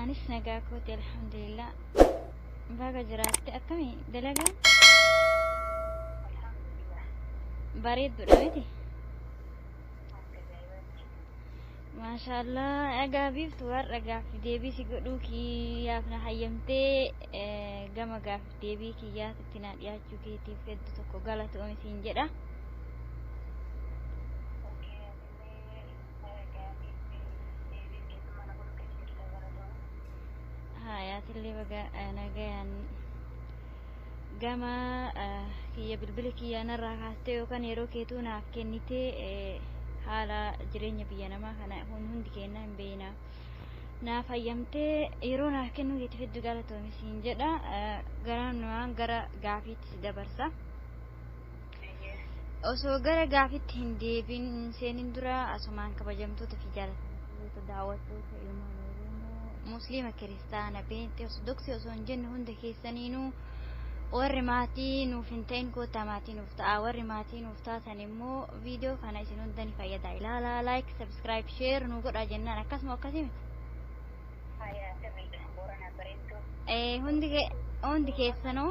Anis nagaa kooti alhamdulillah. Baga jiraatte akkami dalagaan? Bareedduudha miti? Maashaallah egaa biiftu har'a gaaffi deebii si godhuu kiyyaaf na hayyamtee eh, gama gaaffi deebii kiyyaatitti na dhiyaachuu keetiif heddu tokko galatoomi siin jedha. Hayaatillee baga nagayaan gama kiyya bilbila kiyyaa narraa kaastee yookaan yeroo keetuu naaf kennitee haala jireenya biyya namaa kana kun hundi keenya hin beekna. Naaf hayyamtee yeroo naaf kennuu keetiif hedduu galatoomi siin jedha. Garaan waan gara gaafiitti si dabarsa. Osoo gara gaafitti hin deebiin hin seenin dura asumaan kabajamtoota fi jaalattoota daawwattoota ilmaan Oromoo musliima kiristaana peenxee ortodoksii osoo hin jenne hunda keessaniinuu warri maatii nuuf hin ta'in koottaa maatii nuuf ta'a warri maatii nuuf taatan immoo viidiyoo kana isin hunda ni fayyada ilaalaa laayik sabskiraayib sheer nu godhaa jennaan akkasuma akkasii miti. Ee hundi keessanuu.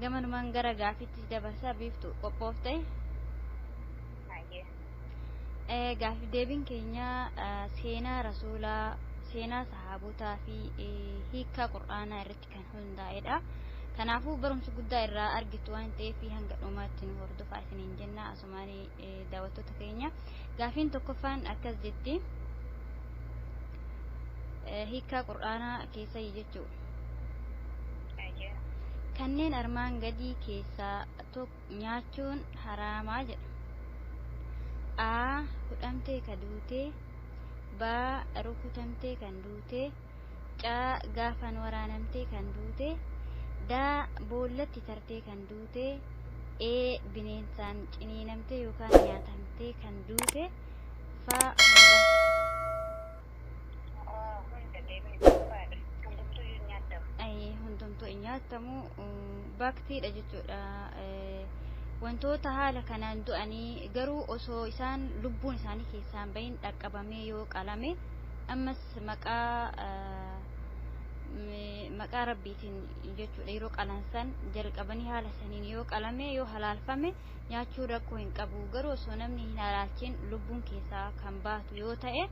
gamanumaan gara gaafiitti si dabarsa biiftu qophoofte Hayyee. Eh, gaafii deebiin keenya eh, seenaa rasuulaa seenaa sahaabotaa fi eh, hiikaa qur'aanaa irratti kan hundaa'edha kanaafuu barumsa guddaa irraa argitu waan ta'eef hanga dhumaatti nu hordofaa isiniin jenna Asumaani daawwattoota keenya. Gaafiin tokkoffaan akkas jetti. Hiikkaa Qur'aanaa keessa jechuu. Kanneen armaan gadii keessaa nyaachuun haraamaa jedha. A. Hudhamtee ka duutee. B. Rukutamtee kan duutee. C. Gaafaan waraanamtee kan duute D. Boollatti tartee kan duute E. Bineensaan ciniinamtee yookaan nyaatamtee kan duute F. Hundumtuu hin nyaatamu baaktiidha jechuudha. Wantoota haala kanaan du'anii garuu osoo isaan lubbuun isaanii keessaan bahin dhaqqabamee yoo qalame ammas maqaa maqaa rabbiitiin jechuudha yeroo qalansan jalqabanii haala saniin yoo qalame yoo halaalfame nyaachuu rakkoo hin qabu garuu osoo namni hin halaalchin lubbuun keessaa kan baatu yoo ta'e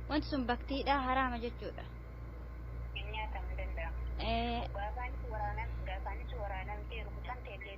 wanti sun baktiidha haraama jechuudha. Nyaatamu danda'a. Gaafaanis waraanamtee rukutamtee illee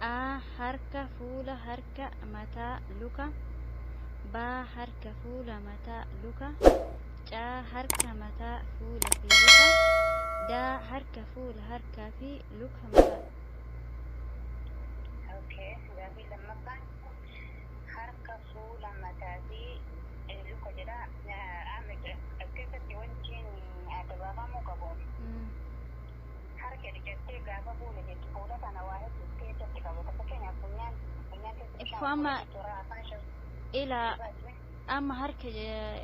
A. Harka, fuula, harka, mataa, luka. B. Harka, fuula, mataa, luka. C. Harka, mataa, fuula fi luka. D. Harka, fuula, harkaa fi luka mataa. Okay. Gaaffii lammaffaan harka fuula mataa fi eh, luka jedha. Eh, Amma as keessatti wanti adda baafamuu qabu Mm. Kara jedhi jettee gaafa buune jechi fuula kana waa heddu of keessatti qabata. Fakkeenyaaf funyaan, funyaan keessa bishaan of Uffama keessatti horaa afaan shan ila ni baasne. amma harka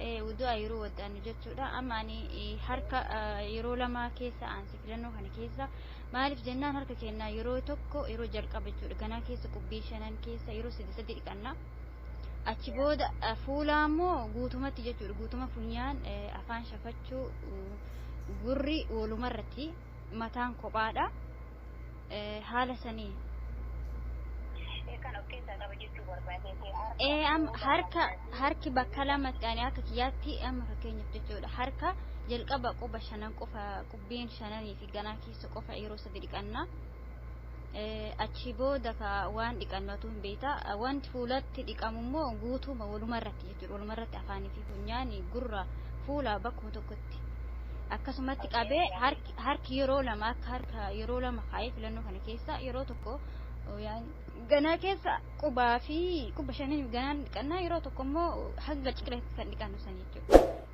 ee wudu'a yeroo waddaannu jechuudha amma ani ee, harka ah, yeroo lama keessa aanse filannoo kana keessa maaliif jennaan harka keenya yeroo tokko yeroo jalqaba jechuudha ganaa keessa qubbii shanan keessa yeroo sadi sadi dhiqanna Achi booda fuulaa immoo guutumatti jechuudha. Guutuma funyaan afaan shafachuu gurri walumarratti mataan kophaadha. Haala sanii. Kan of keessaa qaba jechuu barbaadee Ee amma harka harki bakka lamatti ani akka kiyyaatti amma fakkeenyaaf jechuudha harka jalqaba quba shanan qofa qubbeen shananii fi ganaa keessa qofa yeroo sadi dhiqannaa Achii booda ka waan dhiqannu atuu hin beekta. Wanti fuulatti dhiqamu immoo guutuuma walumarratti jechuudha. Walumarratti afaanii fi funyaan gurra fuula bakkuma tokkotti. Akkasumatti qabee harki, harki yeroo lama akka harka yeroo lama kaa'ee filannoo kana keessa yeroo tokko yaan ganaa keessa qubaa fi quba shaniin ganaan dhiqannaa yeroo tokko immoo hanga ciqileetti kan dhiqannu san jechuudha.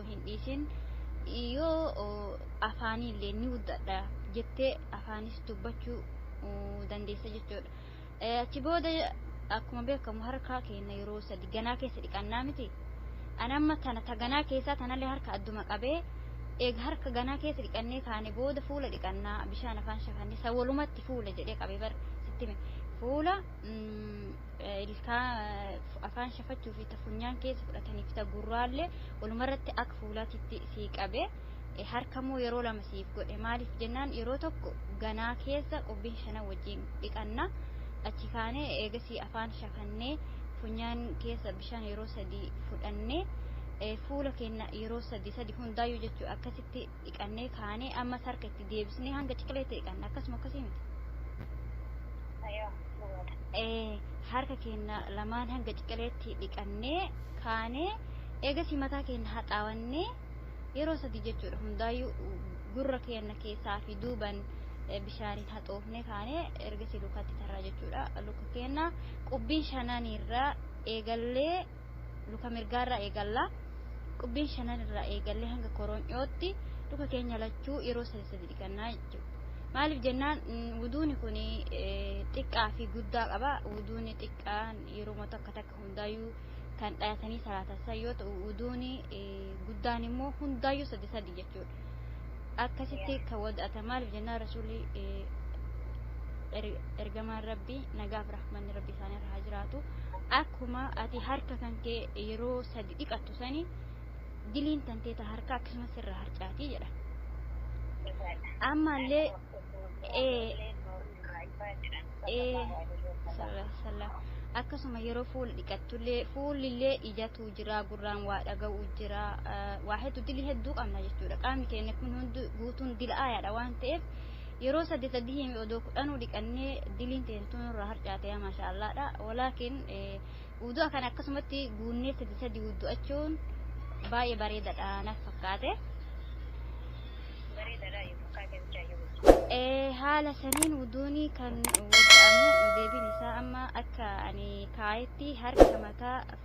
osoo hin dhiisin yoo afaaniillee ni guddadha jettee afaanis dubbachuu dandeessa jechuudha. Achi booda akkuma beekamu harkaa keenya yeroo sadi ganaa keessa dhiqannaa miti. Ani amma tana ta ganaa keessaa tanallee harka adduma qabee eega harka ganaa keessa dhiqannee kaane booda fuula dhiqannaa bishaan afaan shakannee sa walumatti fuula jedhee qabee bar sitti fuula ilkaan, afaan shafachuu fi ta funyaan keessa fudhatanii fi ta gurraallee walumarratti akka fuulaatitti sii qabe. Harkammoo yeroo lama siif godhe. Maaliif jennaan yeroo tokko ganaa keessa qubbiin shanan wajjin dhiqanna. Achi kaanee eegasii afaan shafannee funyaan keessa bishaan yeroo sadii fudhannee fuula keenya yeroo sadii sadii hundaayyuu jechuu akkasitti dhiqannee kaanee ammas harka itti deebisnee hanga ciqileetti dhiqanna akkasuma akkasii miti. Ayoo dhugaadha. Ee, harka keenya lamaan hanga ciqileetti dhiqannee kaanee eegas mataa keenya haxaawannee yeroo sadii jechuudha hundaayyuu gurra keenya keessaa fi duuban eh, bishaaniin haxoofnee kaanee ergasii lukatti tarraa jechuudha lukka keenya qubbiin shananiirraa eegallee luka mirgaarraa eegalla. Qubbiin shanan irraa eegallee hanga koroonyootti luka keenya lachuu yeroo sadi sadi dhiqannaa jechuudha. Maaliif jennaan wuduuni kun xiqqaa fi guddaa qaba. Wuduuni xiqqaan yeroo takka takka hundaayyuu kan dhayatanii salaatan san yoo ta'u wuduuni guddaan immoo hundaayyuu sadi sadi jechuudha. akkasitti tawad'ata maalif jennaan rasuulli ergamaan rabbi nagaaf rahmanni rabbi isaan irra haa jiraatu akkuma ati harka kan kee yeroo sadi dhiqattu sani diliin tantee ta harka akkasumas irra harcaatii jedha ammallee akkasuma yeroo fuula dhiqattullee fuulillee ija tuu jiraa gurraan waa dhaga'uu jira waa hedduu dilii hedduu qabna jechuudha qaamni keenya kun hundi guutuun dilaayaadha waan ta'eef yeroo sadii sadii himi odoo kudhanuu dhiqannee diliin teentuun irraa harcaatee maasha allaadha walaakin uduu akkan akkasumatti guunnee sadii sadii uddu'achuun baay'ee bareedadha naf fakkaate. haala saniin wuduuni kan wuda'amu deebiin isaa amma akka ani kaayetti harka mataa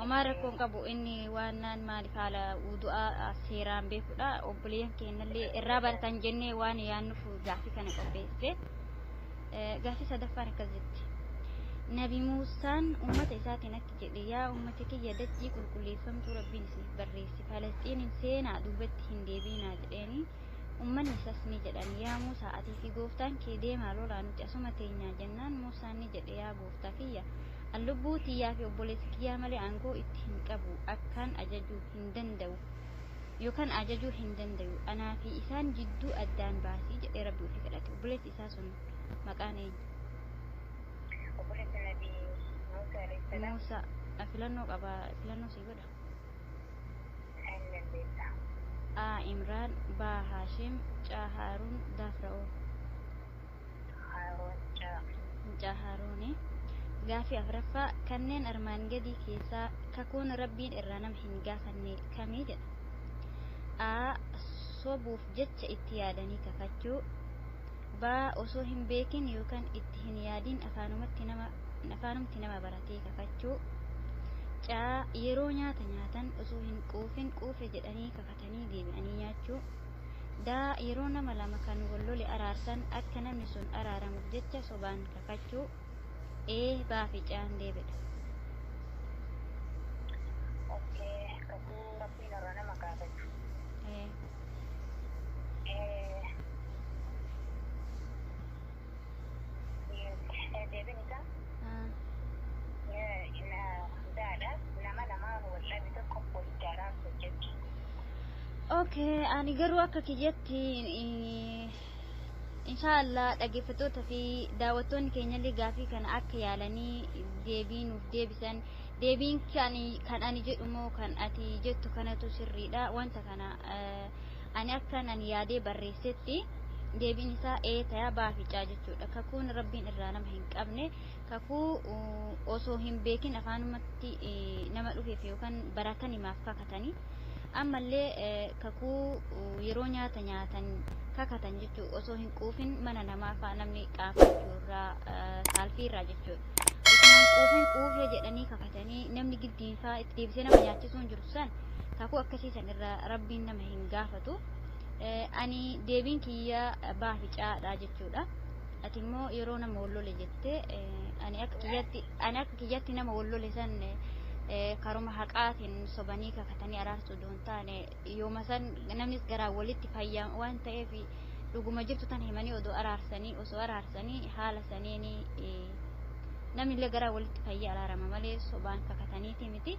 Homaa rakkoo hin qabu inni waannaan maaliif haala wudu'aa seeraan beekudha obboleeyyan keennallee irraa baratan jennee waan yaannuuf gaaffii kana qopheesse gaaffii sadaffaan akkas jetti nabi muusaan ummata isaatiin akki jedhe yaa ummata kiyya dachii qulqulleeffamtuu rabbiin isiniif barreesse falasxiiniin seenaa duubatti hin deebiinaa jedheeni ummanni isas ni jedhan yaa muusaa atii fi gooftaan kee deemaa lolaa nuti asuma teenyaa jennaan muusaan ni jedhe yaa Gooftaa kiyya! An lubbuu tiyyaa fi obboleessa kiyyaa malee aangoo itti hin qabu, akkaan ajaju hin danda'u, yookaan ajajuu hin dandayu. Anaa fi isaan jidduu addaan baasi jedhee Rabbii ofii kadhate. Obboleessi isaa sun maqaan eenyu? Obboleessi Nabii Muusaa alayhi salaam. Muusaa. A. Filannoo qaba, filannoo sii godha. N dandeessa. A. Imraan B. Haashim C. Haaruun D. Fira'oon. Haaruun jedhama. Mucaa Haaruuni. Gaaffii 4ffaa, Kanneen armaan gadii keessaa kakuun Rabbiin irraa nama hin gaafanne kami? jedha. A. Sobuuf jecha itti yaadanii kakachuu. B. Osoo hin beekin yookan itti hin yaadin afaanumatti nama afaanumti nama baratee kakachuu. C. Yeroo nyaata nyaatan osoo hin quufin quufe jedhanii kakachuu. nyaatanii deebi'anii nyaachuu. D. Yeroo nama lama kan wal lole araarsan akka namni sun araaramuuf jecha sobaan kakachuu. E. B fi C deebi dha. Ok. Kakuu Rabbiin irraa nama gaafatu. E. E. Deebiin isaa daadha nama namaa wal'aanni tokko walitti araarsu hojjetti. Okay, ani garuu akka kiyyatti inshaallah dhaggeeffattoota fi daawwattoonni keenyallee gaafii kana akka yaalanii deebii nuuf deebisan deebiin kan kan ani jedhu moo kan ati jettu kanatu sirriidha wanta kana Ani akka nan yaadee barreessetti, deebiin isaa ee taya baaficaa jechuudha. Kakuun Rabbiin irraa nama hin qabne, kakuu osoo hin beekin afaanumatti nama dhufeef yookaan baratan himaaf kakatani. Ammallee kakuu yeroo nyaata nyaatan kakatan jechuudha. Osoo hin quufin mana namaa faa namni qaafachuu irraa saalfii irraa jechuudha. Osoo hin quufin quufee jedhanii kakatanii namni giddiin faa itti deebisee nama nyaachisuun jiru. fakkaatu san kakuu akkasii san irra rabbiin nama hin gaafatu ani deebiin kiyya baafi caadha jechuudha ati immoo yeroo nama wallole jette ani akka kiyyatti ani akka kiyyatti nama wallole san karuma haqaatiin sobanii kakatanii araarsuu doon taane yooma san namnis garaa walitti fayyaa waan ta'eef dhuguma jirtu tan himanii odoo araarsanii osoo araarsanii haala saniini namnillee garaa walitti fayyaa araarama malee sobaan kakataniiti miti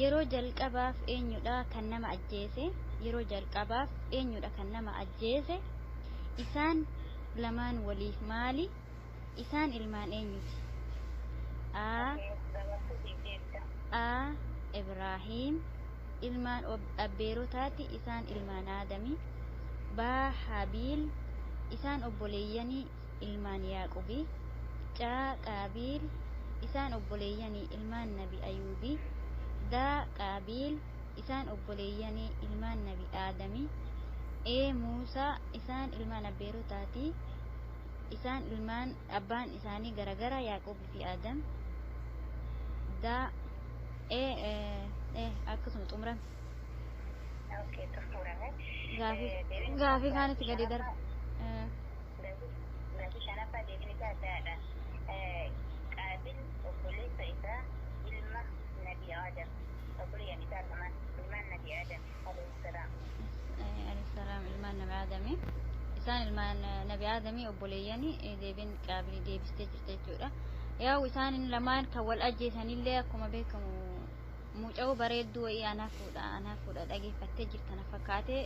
Yeroo jalqabaaf eenyudha kan nama ajjeese? Yeroo jalqabaaf eenyudha kan nama ajjeese? Isaan lamaan waliif maali? Isaan ilmaan eenyuti? A. A. Ibraahiim Ilmaan abbeerotaati isaan ilmaan Aadami. B. Haabiil Isaan obboleeyyani ilmaan Yaaqubi, caa, Qaabiil, isaan obboleeyyani ilmaan nabi Ayuubi, daa, Qaabiil, isaan obboleeyyani ilmaan nabi Aadami, ee, Muusa, isaan ilmaan abbeerotaati, isaan ilmaan abbaan isaanii garagara Yaaqubi fi Aadam, daa, ee, ee, akkasuma xumurame. Okay, xumurame. Gaafii, Eh, deebiin gaafii isaa kaanitti gadi darba. Eh, Baatii shanaffaa deebiin isaa addaadha. Qaabil obboleessa isaa ilma Nabii Aadam, obboleeyyan isaa lamaan, ilmaan Nabii Aadam alayhissalaam. Alayhissalaam ilmaan Nabii Aadami. Isaan ilmaan Nabii Aadami obboleeyyani deebiin Qaabili deebistee jirti jechuudha. Yaa'u isaan lamaan kan wal ajjeesanillee akkuma beekamu Mucayoo bareedduu wayii anaa fuudha anaa fuudha dhageeffattee jirta na fakkaate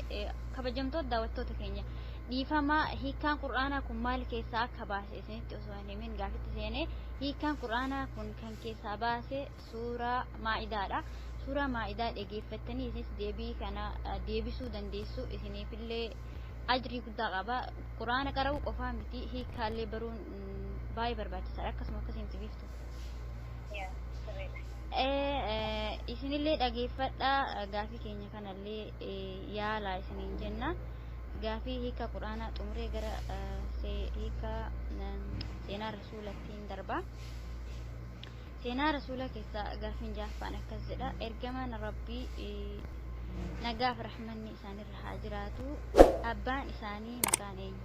kabajamtoota daawwattoota keenya dhiifama hiikkaan qur'aanaa kun maal keessaa akka baase isinitti osoo hin himin gaafitti seenee hiikkaan qur'aanaa kun kan keessaa baase suuraa maa'idaadha suuraa maa'idaa dhageeffattanii isinis deebii kana deebisuu dandeessu isiniifillee ajrii guddaa qaba qur'aana qara'uu qofaa miti hiikkaallee baruun baay'ee barbaachisaadha akkasuma akkasiin sibiiftu. Yeah, sirriidha. Ee, isinillee dhageeffadhaa, gaafii keenya kanallee yaalaa isiniin jenna. Gaafii hiika Qur'aanaa xumuree gara eh, see- hiika eh, seenaa Rasuulattiin darba. Seenaa Rasuula keessaa gaafiin jaaffaan akkas jedha. Ergamaan Rabbii eh, nagaaf rahmanni isaanirra haa jiraatu. Abbaan isaanii maqaan eenyu?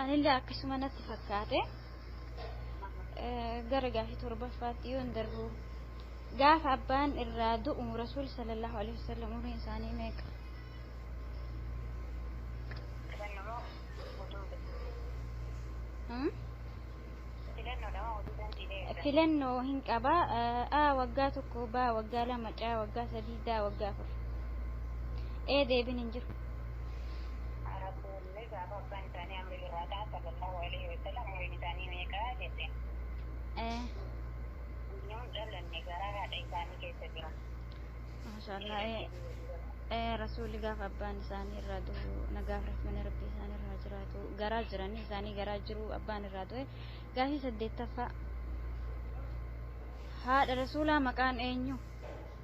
Anillee akkasuma natti fakkaate. Gara gaafii torbaffaatti yoon darbu gaafa abbaan irraa du'u Rasuul sallallahu alaihi wasallam umriin isaanii meeqa? Filannoo hin qaba. A waggaa tokko, B waggaa lama, C waggaa sadii, D waggaa afur. Ee deebiin hin jiru. Ni gaafa abbaan isaanii amri birraataa sallallahu aleyhi wasallam umriin isaanii meeqa jetteen. ee. Nuun dhalanne garaa haadha isaanii keessa jira. Maashaallah ee ee rasuulli gaafa abbaan isaanii irraa du'u nagaaf rahmani rabbii isaan irraa haa jiraatu garaa jiranii isaanii garaa jiru abbaan irraa du'e gaafii saddeettaffaa haadha rasuulaa maqaan eenyu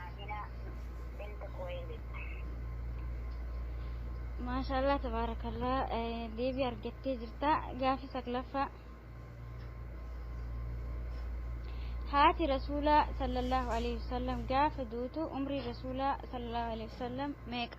Aamina bint Kuweylid. Maashaallah tabaarakallah deebii argattee jirta gaafi saglaffaa haati rasuulaa sallallahu alaihi wasallam gaafa duutu umrii rasuulaa sallallahu alaihi wasallam meeqa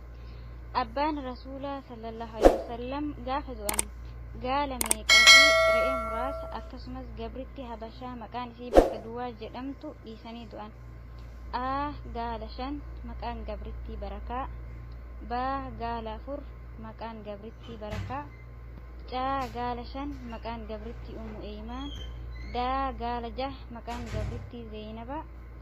Abbaan Rasuulaa sallallahu aleyh wasallam gaafa du'an gaala meeqaa fi re'ee muraasa akkasumas gabritti habashaa maqaan isii bakka duwaa jedhamtu dhiisanii du'an. A. Gaala shan maqaan gabrittii barakaa. B. Gaala afur maqaan gabrittii barakaa. C. Gaala shan maqaan gabrittii ummu eeymaan. D. Gaala jah maqaan gabrittii zeeynaba.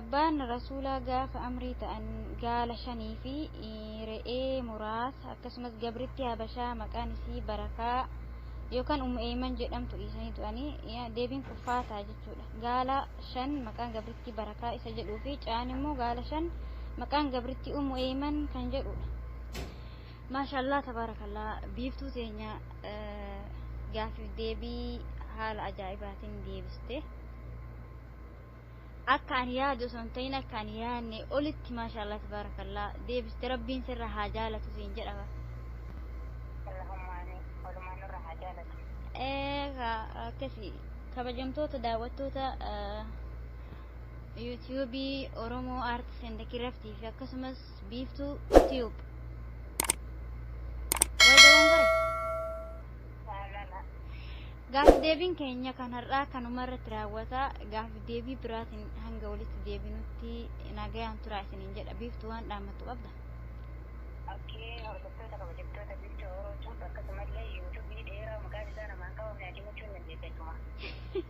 Abbaan Rasuulaa gaafa amrii ta'an gaala shanii fi re'ee muraasa akkasumas gabritti habashaa maqaan isii barakaa yookaan ummu eeyman jedhamtu dhiisanii du'anii deebiin kuffaa ta'a jechuudha. Gaala shan maqaan gabritti barakaa isa jedhuu fi ca'aan immoo gaala shan maqaan gabritti ummu eeyman kan jedhudha. Maashaallaah tabaarakallaah biiftuu teenya gaaffiif deebii haala ajaa'ibaatiin deebiste. Akka ani yaadu osoo hin ta'in akka ani yaadne olitti maashaallaah tabaarakallaah deebiste rabbiin sirra haa jaalatu siin jedhama. Allahumma amiin. Walumaan nurra haa jaalatu. Eega akkasi kabajamtoota daawwattoota eh, yuutuubii Oromoo Aartis and Kiraftii fi akkasumas Biiftuu Tube. Wal dogongore. Gaaffi deebiin keenya kan har'aa kanuma irratti raawwata. Gaaffi deebii biraatiin hanga walitti deebinutti nagayaan turaa isiniin jedha. Biiftuu waan dhaammattu qabda. Akkee hordoftoota kabajamtoota biiftuu Oromoo Tube akkasumallee yuutuubii dheeraa maqaan isaa namaan qabamne ati muchuun dandeesseettuma.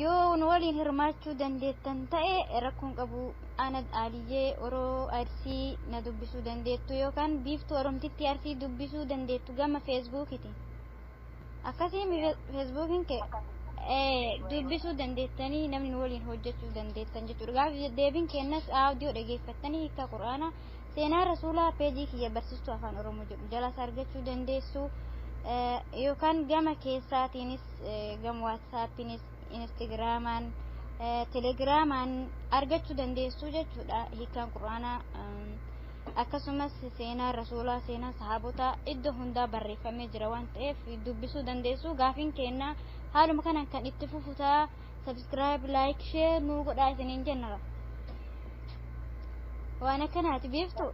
Yoo nu waliin hirmaachuu dandeettan ta'e rakkoon qabu Anad Aaliyyee Oroo Arsii na dubbisuu dandeettu yookaan Biiftuu Oromtittii Arsii dubbisuu dandeettu gama Feesbuukiti. Akkasii Feesbuukiin kee dubbisuu dandeettanii namni nu waliin hojjechuu dandeettan jechuudha. Gaafi deebiin kennas audiyoo dhageeffattanii hiikaa Qur'aanaa seenaa rasuulaa peejii kiyya barsiistuu afaan Oromoo jedhu jalaas argachuu dandeessu yookaan gama keessaatiinis gam waatsaappiinis inistagiraamaan telegiraamaan argachuu dandeessuu jechuudha hiikaan quraanaa akkasumas seenaa rasuulaa seenaa sahaabotaa iddoo hundaa barreeffamee jira waan ta'eef dubbisuu dandeessuu gaafiin keennaa haaluma kanaan kan itti fufutaa sabiskiraayib laayik shee nuu godhaa isiniin jennara waan akkanaati beektu.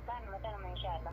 Kanuma kanuma inshaallah.